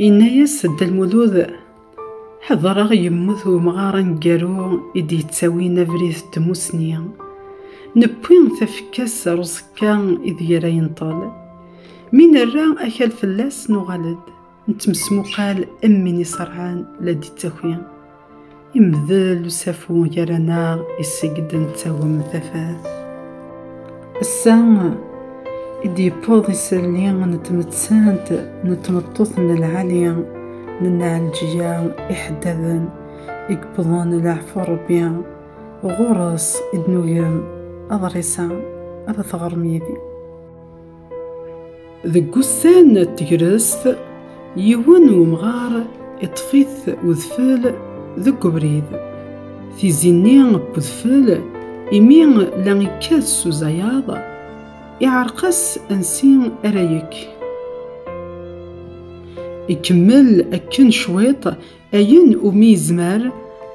Yenna-yas Dda Lmulud, ḥedreɣ yemmut umɣar aneggaru i d-yettawin abrid n tmussni. Newwi tafekka-s ar uẓekka ideg ara yenṭel. Mi nerra akal fell-as nuɣal-d, nettmesmuqal am win iṣerɛen la d-ittaki. Imdel usafu gar-aneɣ iseg-d nettagem tafat. Ass-a i d-yewweḍ isalli n tmettant n tmeṭṭut n lɛali n Nɛelǧiya iḥeddaden i yewwḍen leɛfu n Rebbi. Ɣur-s i d-nugem aḍris-a ara teɣrem yid-i. Deg wussan n tegrest, yiwen n umɣar iṭṭef-it udfel deg ubrid. Tizi-nni n udfel, imi la yekkat s uzayaḍ, iɛreq-as ansi ara yekk. Ikemmel akken cwiṭ Ayen umi yezmer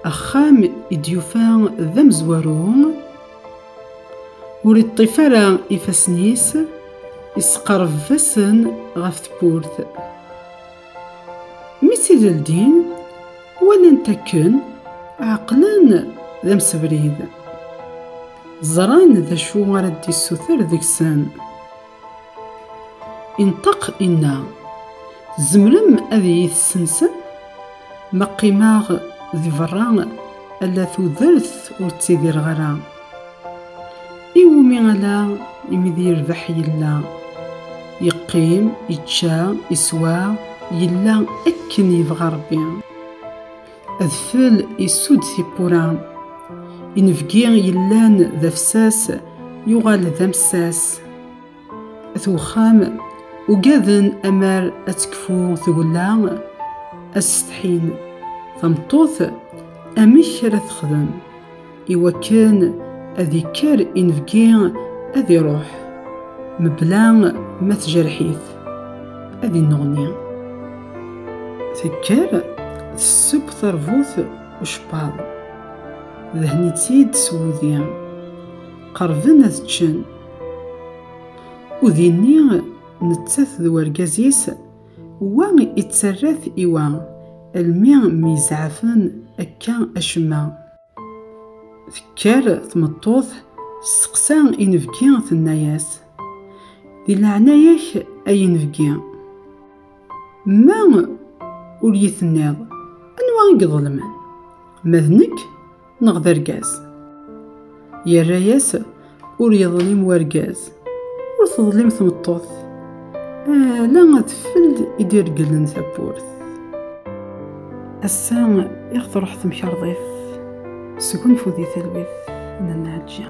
axxam i d-yufa d amezwaru, ur iṭṭif ara ifassen-is, isqerbeb-asen ɣef tewwurt. Mi tt-id-ldin, walan-t akken, ɛeqlen d amsebrid. Ẓran d acu ara d-yessuter deg-sen. Inṭeq inna, Tzemrem ad iyi-tessensem? Ma qqimeɣ di berra, ala tudert ur ttidireɣ ara. Iwumi ala imi d yerbeḥ yella? Yeqqim, ičča, iswa, yella akken yebɣa Rebbi. Adfel isudd tiwwura. Inebgi yellan d afsas yuɣal d amsas. At uxxam ugaden amar ad tekfu tgella ad setḥin. Tameṭṭut amek ara texdem? iwakken ad ikker inebgi ad iruḥ mebla ma tjerḥ-it ad inneɣni tekker tesseww terbut ucebbaḍ dehni-tt-id s wudi qerben ad ččen udinni nettat d urgaz-is wa ittarrat i wa almi myezɛafen akka acemma Tekker tmeṭṭut testeqsa inebgi tenna-yas di leɛnaya-k ay inebgi ma ur yi-tenniḍ anwa i iḍelmen ma d nekk neɣ d argaz yerra-yas ur yeḍlim wergaz ur teḍlim tmeṭṭut ala adfel i d-iregglen tawwurt ass-a i ɣ-truḥ temkarḍit sgunfu di talwit n Nnaɛǧiya